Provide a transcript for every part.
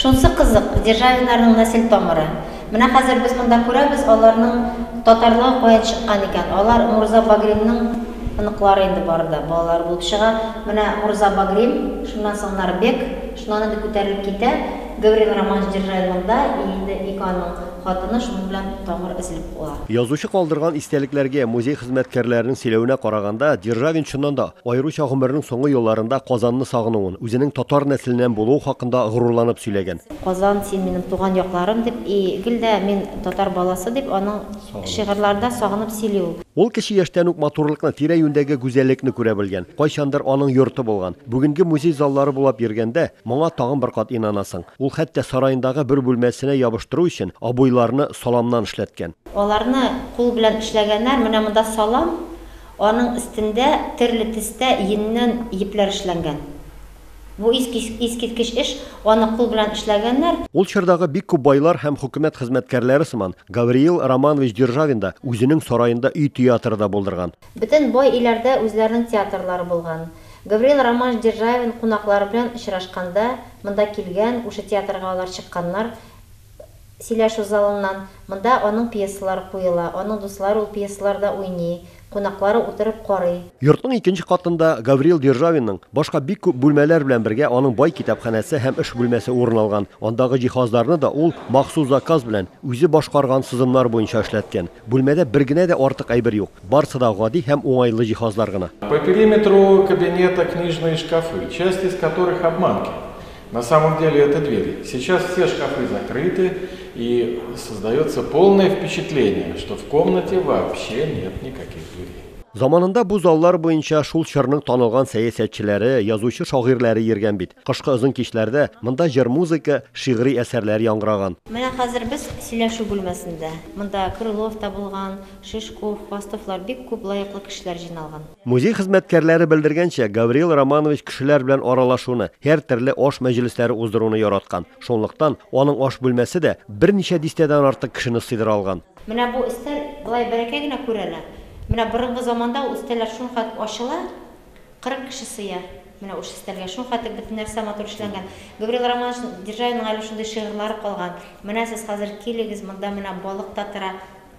Шунсы кызык, Державиннарның нәсел тамыры. Менә хәзер без монда күрәбез, аларның татарлыгы каян чыккан икән. Алар Мурза Багримның оныклары инде бары да, балалары булып чыга. Менә Мурза Багрим, шуннан соң аннары Бек, шуннан инде күтәрелеп китә. Гаврил Романович Державин монда, и инде ике аның хатыны шуның белән тамыр өзелеп куа. Язучы калдырган истәлекләргә, музей хезмәткәрләренең сөйләвенә караганда, Державин чыннан да, Аеруча гомеренең соңгы елларында Казанны сагынуын, үзенең татар нәселеннән булуы хакында горурланып сөйләгән. Казан, син минем туган якларым, дип, и гел дә мин татар баласы, дип, аның шигырьләрдә сагынып сөйли ул. Ул кече яшьтән үк матурлыкны, тирә-юньдәге гүзәллекне күрә белгән, кайчандыр аның йорты булган. Бүгенге музей заллары булап йөргәндә, моңа тагын бер кат инанасың. Ул хәтта сараендагы бер бүлмәсенә ябыштыру өчен обойларны саламнан эшләткән. Аларны кул белән эшләгәннәр, менә монда салам, Аның өстендә төрле төстә йөннән йепләр эшләнгән. Бу искиткеч эш, аны кул белән эшләгәннәр. Ул чордагы бик күп байлар һәм хөкүмәт хезмәткәрләре сыман, Гавриил Романович Державин да үзенең сараенда өй театры да булдырган. Бөтен бай өйләрдә үзләренең театрлары булган. Гавриил Романович Державин кунаклары белән очрашканда, монда килгән, ушы театрга алар чыкканнар, сөйләшү залыннан. Монда аның пьесалары куела, аның дуслары ул пьесаларда уйный, кунаклары утырып карый. Йортның икенче катында Гаврил Державинның башка бик күп бүлмәләр белән бергә аның бай китапханәсе һәм эш бүлмәсе урын алган. Андагы җиһазларны да ул махсус заказ белән, үзе башкарган сызымнар буенча эшләткән. Бүлмәдә бер генә дә артык әйбер юк, барысы да гади һәм уңайлы җиһазлар гына. По периметру кабинета книжные шкафы, часть из которых обманки. На самом деле это двери. Сейчас все шкафы закрыты и создается полное впечатление, что в комнате вообще нет никаких дверей. Заманында бу заллар буенча шул чорның танылган сәясәтчеләре, язучы шагыйрьләре йөргән бит. Кышкы озын кичләрдә монда җыр музыка, шигъри әсәрләр яңгыраган. Менә хәзер без сөйләшү бүлмәсендә. Монда Крылов та булган, Шишков, Хвастовлар бик күп лаеклы кешеләр җыйналган. Музей хезмәткәрләре белдергәнчә, Гавриил Романович кешеләр белән аралашуны, һәртөрле аш мәҗлесләре уздыруны яраткан. Шунлыктан, аның аш бүлмәсе дә берничә дистәдән артык кешене сыйдыра алган. Менә бу өстәл болай бәләкәй генә күренә, менә борынгы заманда ул өстәлләр шулкадәр ачыла, 40 кеше сыя, менә ушы өстәлгә, шулкадәр бөтен нәрсә матур эшләнгән. Гавриил Романович Державинның әле шундый шигырьләре калган, Менә сез хәзер килегез, монда менә балык та тора,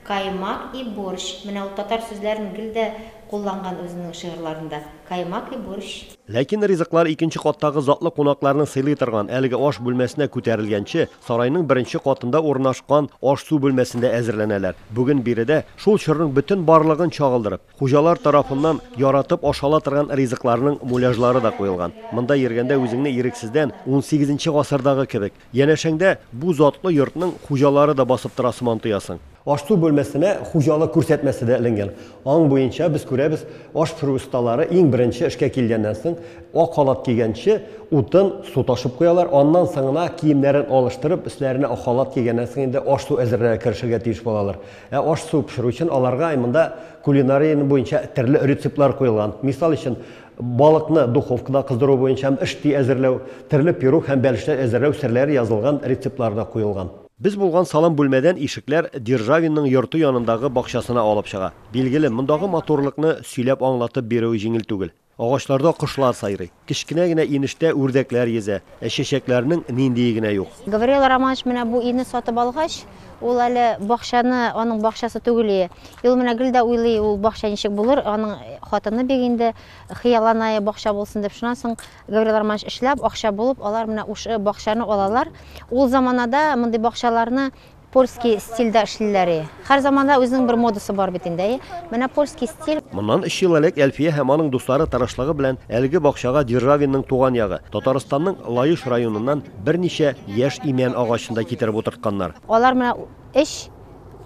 Каймак и борщ. Менә ул татар сүзләрен гел дә кулланган үзенең шигырьларында. Каймак и борщ. Ләкин ризыклар икенче каттагы затлы кунакларны сыйлый торган әлеге аш бүлмәсенә күтәрелгәнче, сарайның беренче катында урынашкан аш-су бүлмәсендә әзерләнәләр. Бүген биредә, шул чорның бөтен барлыгын чагылдырып, хуҗалар тарафыннан яратып ашала торган ризыкларның муляжлары да куелган. Монда йөргәндә үзеңне ирексездән унсигезенче гасырдагы кебек, Янәшәңдә бу затлы йортның хуҗалары да басып тора сыман тоясың. Аш-су бүлмәсенә хуҗалык күрсәтмәсе дә эленгән. Аң буенча без күрәбез, аш пешерү осталары иң беренче эшкә килгәннән соң, ак халат кигәнче, утын, су ташып куялар, аннан соң гына киемнәрен алыштырып, өсләренә ак халат кигәннән соң инде аш-су әзерләргә керешергә тиеш булалар. Ә аш-су пешерү өчен аларга монда кулинария буенча төрле рецептлар куелган. Мисал өчен, Балыкны духовкада кыздыру буенча һәм ышти әзерләү, төрле пирог һәм бәлешләр әзерләү серләре язылган рецептлар да куелган. Без булган салам бүлмәдән ишекләр Державинның йорты янындагы бакчасына алып чыга. Билгеле, мондагы матурлыкны сөйләп аңлатып бирүе җиңел түгел. Агачларда кошлар сайрый. Кечкенә генә инештә үрдәкләр йөзә. Ә чәчәкләрнең ниндие генә юк! Гаврил Романович менә бу өйне сатып алгач, ул әле бакчаны, аның бакчасы түгел ие. И ул менә гел дә уйлый, ул бакча ничек булыр, аның хатыны бик инде хыялланая, бакча булсын дип. Шуннан соң Гаврил Романович эшләп, акча булып, алар менә ушы бакчаны алалар. Ул заманада мондый бакчаларны Польски стильдә эшлиләр и. Хәр заманда үзенең бер модасы бар бит инде, әйе. Менә польски стиль. Моннан өч ел элек Әлфия һәм аның дуслары тырышлыгы белән әлеге бакчага Державинның туган ягы, Татарстанның Лаеш районыннан берничә яшь имән агачын да китереп утыртканнар. Алар менә өч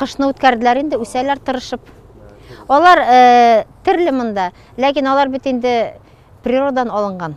кышны үткәрделәр инде, үсәләр тырышып. Алар терле монда, ләкин алар бит инде природадан алынган.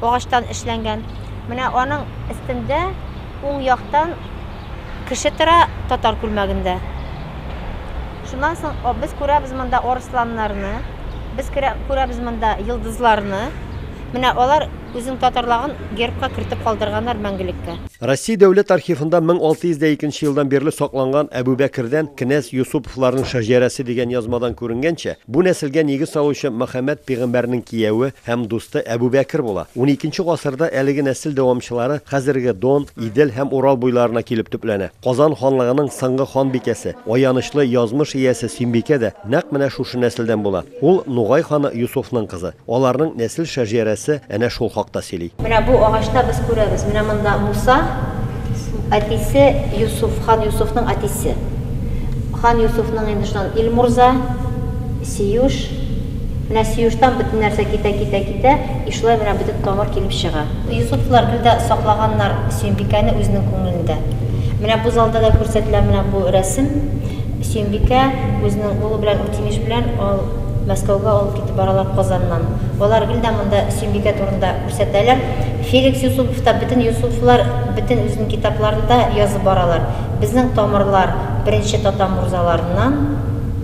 агачтан эшләнгән. Менә аның өстендә уң яктан кеше тора татар күлмәгендә. Шуннан соң без күрәбез монда арысланнарны, без күрәбез монда йолдызларны. Менә алар үзенең татарлагын гербка кертеп калдырганнар мәңгелеккә. Россия дәүләт архивында 1102 нче елдан бирле сакланган Әбүбәкердән кенәз Йосыповларның шәҗәрәсе дигән язмадан күренгәнчә, бу нәселгә нигез салучы Мөхәммәд пигамбәрнең кияве, һәм дусты Әбүбәкер була. Уникенче гасырда әлеге нәсел дәвамчылары хәзерге Дон, Идел һәм Урал буйларына килеп төпләнә. Казан ханлыгының соңгы ханбикәсе, аянычлы язмыш иясе Сөембикә дә нәкъ менә шушы нәселдән була. Ул Нугай ханы Йосыфның кызы. Аларның нәсел шәҗәрәсе әнә шул хакта сөйли. Менә бу агачта без күрәбез, менә монда Муса, әтисе Йосыф, хан Йосыфның әтисе. Хан Йосыфның инде шуннан Илмурза. Сөюш, менә Сөюштан бөтен нәрсә китә, китә, китә, и шулай менә бөтен тамыр килеп чыга. Йосыповлар гел дә саклаганнар Сөембикәне үзенең күңелендә. Менә бу залда да күрсәтелә менә бу рәсем. Сөембикә үзенең улы белән Үтимеш белән ал Мәскәүгә алып китеп баралар Казаннан. Алар гел дә монда Сөембикә турында күрсәтәләр. Феликс Йосыпов та, бөтен Йосыповлар бөтен үзенең китапларында язып баралар, безнең тамырлар беренче татар морзаларыннан,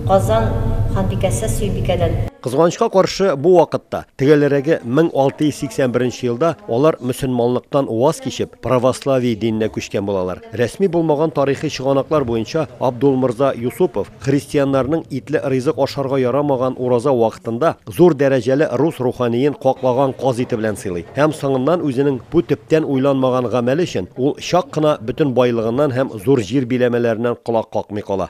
Казан ханбикәсе Сөембикәдән. Кызганычка каршы, бу вакытта, төгәлрәге 1681 елда, алар мөселманлыктан ваз кичеп, православие диненә күчкән булалар. Рәсми булмаган тарихи чыганаклар буенча, Абдулмырза Юсупов христианнарның итле ризык ашарга ярамаган ураза вакытында зур дәрәҗәле рус руханиен каклаган казыйты белән сыйлый һәм соңыннан үзенең бу төптән уйланмаган гамәле өчен ул чак кына бөтен байлыгыннан һәм зур җир биләмәләреннән колак какмый кала.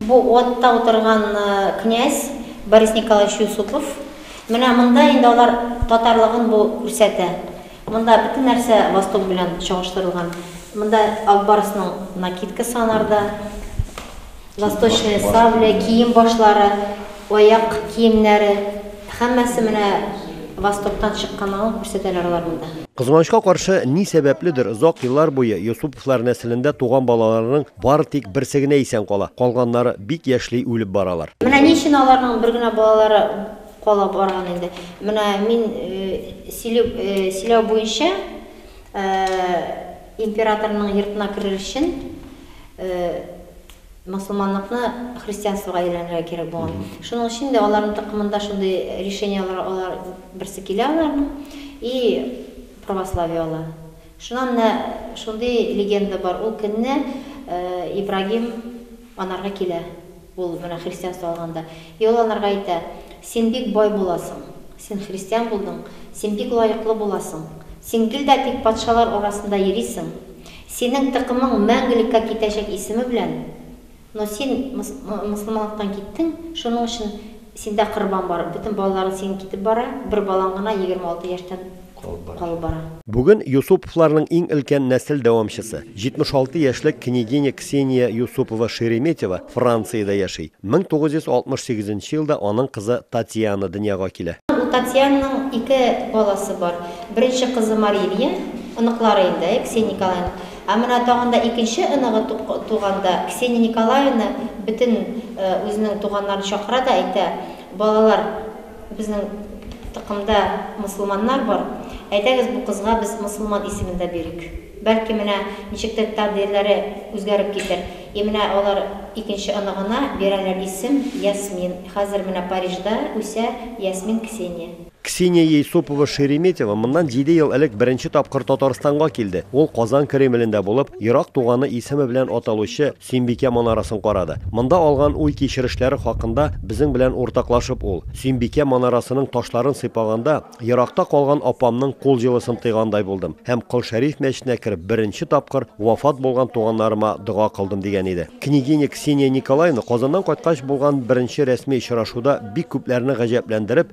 Бу атта утырган князь Борис Николаевич Юсупов. Менә монда инде алар татарлыгын бу күрсәтә. Монда бөтен нәрсә восток белән чагыштырылган. Монда Ак барсның накидкасы анарда, восточная сабля, кием башлары, аяк киемнәре, һәммәсе менә востоктан чыкканлыгын күрсәтәләр алар монда. Кызганычка каршы, ни сәбәпледер, озак еллар буе Юсуповлар нәселендә туган балаларның Бары тик берсе генә исән кала, калганнары бик яшьли үлеп баралар. Менә ни өчен аларның бер генә балалары кала барган инде. Менә мин сөйләү буенча, императорның йортына керер өчен мосылманлыкны христианствога әйләндерергә кирәк булган. Шуның өчен дә аларның токымында шундый решениеләр алар берсе килә аларның и православие ала. Шуннан да шундый легенда бар, ул көнне Ибрагим анарга килә, ул менә христианство алганда, и ул анарга әйтә, Син бик бай буласың, син христиан булдың, син бик лаеклы буласың, син гел дә тик патшалар арасында йөрисең, синең тыкымың мәңгелеккә китәчәк исеме белән, Но син мосылманлыктан киттең, шуның өчен синдә корбан бар, бөтен балаларың синең китеп бара, бер балаң гына егерме алты яшьтән калып бара. Бүген Юсуповларның иң өлкән нәсел дәвамчысы, 76 яшьлек княгиня Ксения Юсупова-Шереметева Франциядә яши. 1968 елда аның кызы Татьяна дөньяга килә. У Татьянаның ике баласы бар. Беренче кызы Марилья, оныклары инде, Ксения Николаевна, Ә менә тагын да икенче оныгы туганда, Ксения Николаевна бөтен үзенең туганнарын чакыра да әйтә, Балалар, безнең токымда мосылманнар бар, әйдәгез бу кызга без мосылман исемен дә бирик. Бәлки менә ничектер тәкъдирләре үзгәреп китер. И менә алар икенче оныгына бирәләр исем Ясмин. Хәзер менә Парижда үсә Ясмин Ксения. Ксения Ейсупова-Шереметева моннан җиде ел элек беренче тапкыр Татарстанга килде. Ул Казан Кремлендә булып, ерак туганы исеме белән аталучы Сөембикә манарасын карады. Монда алган уй-кичерешләре хакында безнең белән уртаклашып ул, Сөембикә манарасының ташларын сыйпаганда, еракта калган апамның кул җылысын тойгандай булдым һәм Кол Шәриф мәчетенә кереп беренче тапкыр вафат булган туганнарыма дога кылдым, дигән иде. Княгиня Ксения Николаевна Казаннан кайткач булган беренче рәсми очрашуда бик күпләрне гаҗәпләндереп,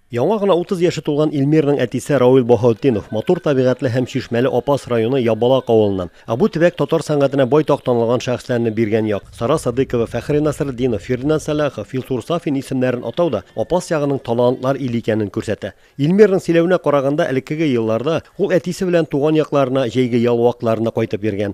Яңа гына 30 яше тулган Илмирның әтисе Рауил Баһаутдинов, матур табигатьле һәм чишмәле Апас районы Ябалак авылыннан. Ә бу төбәк татар сәнгатенә байтак танылган шәхесләрне биргән як. Сара Садыйкова, Фәхри Насретдинов, Фирдинәс Сәлахов, Илсур Сафин исемнәрен атау да Апас ягының талантлар иле икәнен күрсәтә. Илмирның сөйләвенә караганда, элеккеге елларда ул әтисе белән туган якларына җәйге ял вакытларында кайтып йөргән.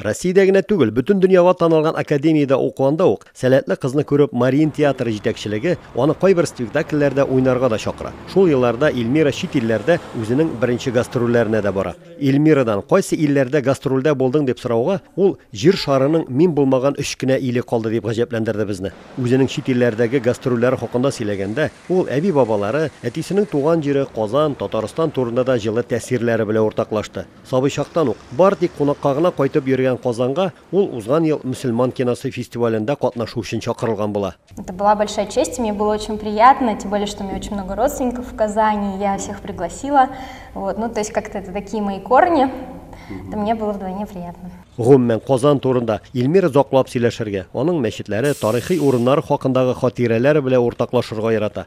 Россиядә генә түгел, бөтен дөньяга танылган академиядә укуында ук, сәләтле кызны күреп, Мариин театры җитәкчелеге аны кайбер спектакльләрдә уйнарга да чакыра. Шул елларда Ильмира чит илләрдә үзенең беренче гастрольләренә дә бара. Ильмирадан, кайсы илләрдә гастрольдә булдың, дип сорауга, ул, Җир шарының мин булмаган өч кенә иле калды, дип гаҗәпләндерде безне. Үзенең чит илләрдәге гастрольләре хакында сөйләгәндә, ул әби-бабалары, әтисенең туган җире, Казан, Татарстан турында да җылы тәэсирләре белән уртаклашты. Сабый чактан ук, бары тик кунакка гына кайтып йөргән Казанга ул узган ел Мөселман киносы фестивалендә катнашу өчен чакырылган була. Это была большая честь, и мне было очень приятно, тем более, что у меня очень много родственников в Казани, и я всех пригласила. Вот, ну, то есть как-то это такие мои корни, это мне было вдвойне приятно. Гомумән, Казан турында Илмир озаклап сөйләшергә, аның мәчетләре, тарихи урыннары хакындагы хатирәләре белән уртаклашырга ярата.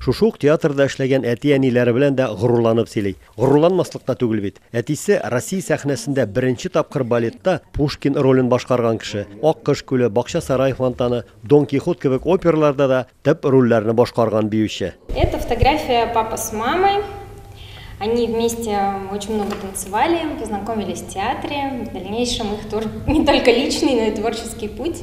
Шушы ук театрда эшләгән әти-әниләре белән дә горурланып сөйли. Горурланмаслык та түгел бит. Әтисе, Россия сәхнәсендә беренче тапкыр балетта Пушкин ролен башкарган кеше. Аккош күле, Бакча сарае фонтаны, Дон Кихот кебек операларда да төп рольләрне башкарган биюче. Это фотография папы с мамой. Они вместе очень много танцевали, познакомились в театре. В дальнейшем их тоже не только личный, но и творческий путь.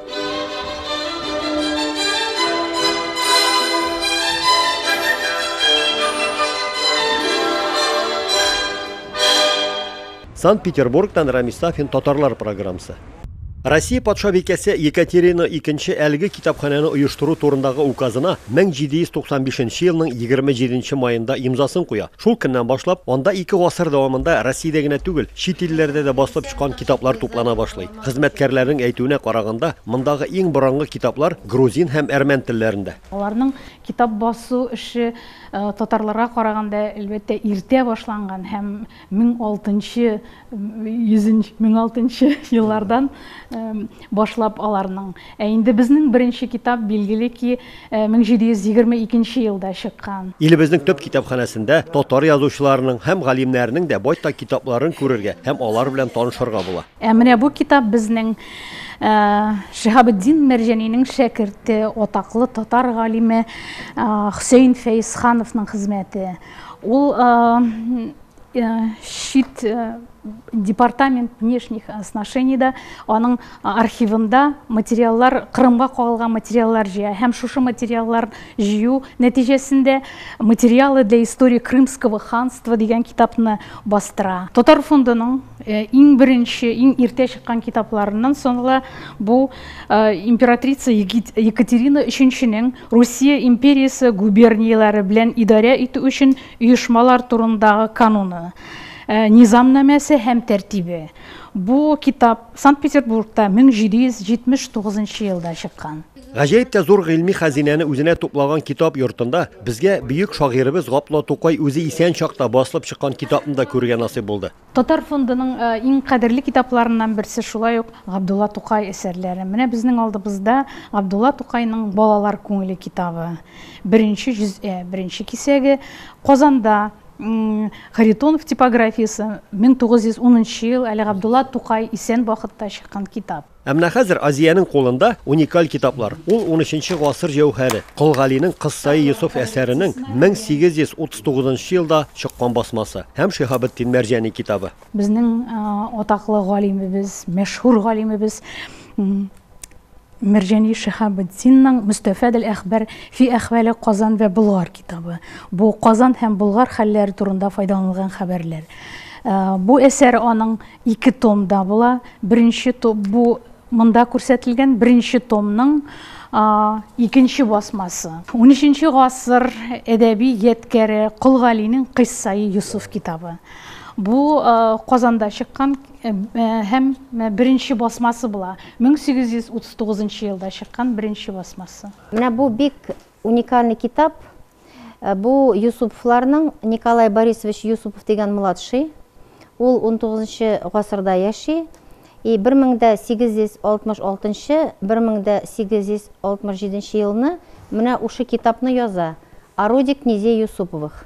Санкт-Петербургтан Рамис Сафин Татарлар программсы. Россия патшабикәсе Екатерина II әлеге китапханәне оештыру турындагы указына 1795 елның 27 маенда имзасын куя. Шул көннән башлап, анда ике гасыр дәвамында Россиядә генә түгел, чит илләрдә дә басылып чыккан китаплар туплана башлый. Хезмәткәрләрнең әйтүенә караганда, мондагы иң борынгы китаплар грузин һәм әрмән телләрендә. Аларның китап басу эше татарларга караганда, әлбәттә, иртә башланган һәм 1006 нчы 1006 еллардан башлап аларның. Ә инде безнең беренче китап, билгеле ки, 1722 елда чыккан. Илебезнең төп китапханәсендә татар язучыларының һәм галимнәренең дә байтак китапларын күрергә һәм алар белән танышырга була. Ә менә бу китап безнең Шиһабетдин Мәрҗәнинең шәкерте, атаклы татар галиме Хөсәен Фәезхановның хезмәте. Ул чит департамент внешних отношениеда аның архивында материаллар Кырымга кагылган материаллар җыя һәм шушы материаллар җыю нәтиҗәсендә материалы для истории крымского ханства дигән китапны бастыра татар фондының иң беренче иң иртә чыккан китапларыннан санала бу императрица екатерина өченченең русия империясе губернияләре белән идарә итү өчен Оешмалар турындагы кануны, низамнамәсе һәм тәртибе, бу китап Санкт-Петербургта 1779 елда чыккан. Гаҗәеп тә зур гыйльми хәзинәне үзенә туплаган китап йортында безгә бөек шагыйребез Гапло Тукай үзе исән чакта басылып чыккан китапны да күрергә насыйп булды. Татар фондының иң кадерле китапларыннан берсе шулай ук Габдулла Тукай әсәрләре. Менә безнең алдыбызда Габдулла Тукайның Балалар күңеле китабы. Беренче җөз'ә, беренче кисәге. Казанда Харитонов типографиясе, 1910 нчы ел, әле Габдулла Тукай исән вакытта чыккан китап. Ә менә хәзер Азиянең кулында уникаль китаплар. Ул 13 гасыр җәүһәре, Кол Галинең Кыссаи Йосыф әсәренең 1839 елда чыккан басмасы һәм Шиһабетдин Мәрҗани китабы. Безнең атаклы галимебез, мәшһүр галимебез Мәрҗани Шиһабетдинның Мөстәфәдел әхбәр фи әхвәле Казан вә Болгар китабы. Бу Казан һәм Болгар хәлләре турында файдаланылган хәбәрләр. Бу әсәр аның Ике томда була. Беренче том бу монда күрсәтелгән беренче томның икенче басмасы. 13 гасыр әдәби ядкәре Кол Галинең Кыйссаи Юсуф китабы. Бу Казанда чыккан һәм беренче басмасы була. 1839 елда чыккан беренче басмасы. Менә бу бик Уникальный китап, бу Юсуповларның, Николай Борисович Юсупов дигән младший, ул унтугызынчы нчы гасырда яши, и бер мең дә сигез йөз алтмыш алтынчы, бер мең дә сигез йөз алтмыш җиденче елны менә ушы китапны яза, О роде князей Юсуповых.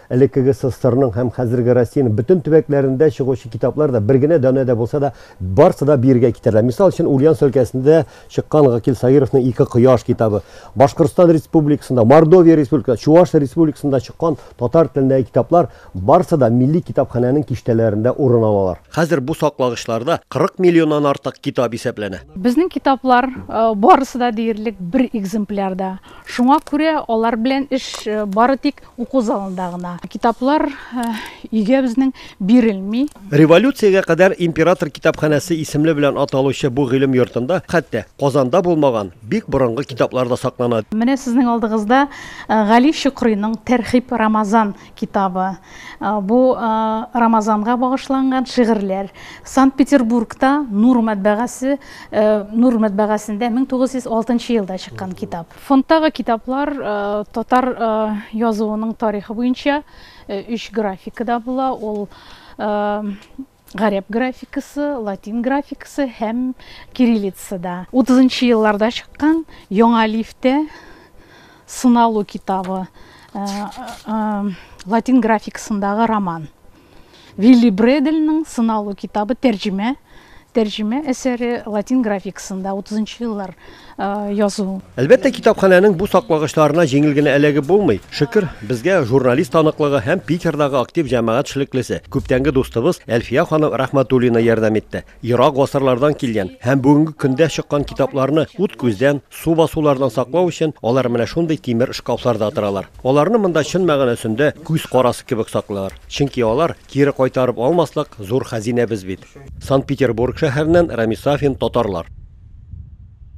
Элеккеге СССРның һәм хәзерге Россиянең бөтен төбәкләрендә чыгучы китаплар да, бер генә данә дә булса да, барсы да биергә китерелә. Мисал өчен, Ульяновск өлкәсендә чыккан Гакил Саировның Ике кояш китабы, Башкортстан Республикасында, Мордовия Республикасында, Чуваш Республикасында чыккан татар телендәге китаплар, барсы да милли китапханәнең киштәләрендә урын алалар. Хәзер бу саклагычларда 40 миллионнан артык китап исәпләнә. Безнең китаплар, барысы да диярлек бер экземплярда. Шуңа күрә алар белән эш бары тик уку залында гына. Китаплар өйгә безнең бирелми. Революциягә кадәр Император китапханәсе исемле белән аталучы бу гыйлем йортында хәтта Казанда булмаган бик борынгы китаплар да саклана. Менә сезнең алдыгызда Гали Чокрыйның Тәрхиб-Рамазан китабы. Бу Рамазанга багышланган шигырьләр. Санкт-Петербургта Нур мәтбәгасе, Нур мәтбәгасендә 1906 елда чыккан китап. Фондтагы китаплар татар язуының тарихы буенча өч графикада була. Ул Гарәп графикасы, латин графикасы һәм кириллицада. 30 нчы елларда чыккан Яңа лифтә сыналу китабы, э, э, латин графикасындагы роман. Вилли Бредельның сыналу китабы тәрҗемә, тәрҗемә әсәре латин графикасында 30 нчы еллар. язу. Әлбәттә, китапханәнең бу саклагычларына җиңел генә эләгеп булмый. Шөкер, безгә журналист таныклыгы һәм Питердагы актив җәмәгать шлеклесе, күптәнге дустыбыз Әлфия ханым Рәхмәтуллина ярдәм итте. Ерак гасырлардан килгән һәм бүгенге көндә чыккан китапларны ут-күздән, су басулардан саклау өчен алар менә шундый тимер шкафларда торалар. Аларны монда чын мәгънәсендә күз карасы кебек саклыйлар. Чөнки алар, кире кайтарып алмаслык, зур хәзинәбез бит. Санкт-Петербург шәһәреннән Рамис Сафин, Татарлар.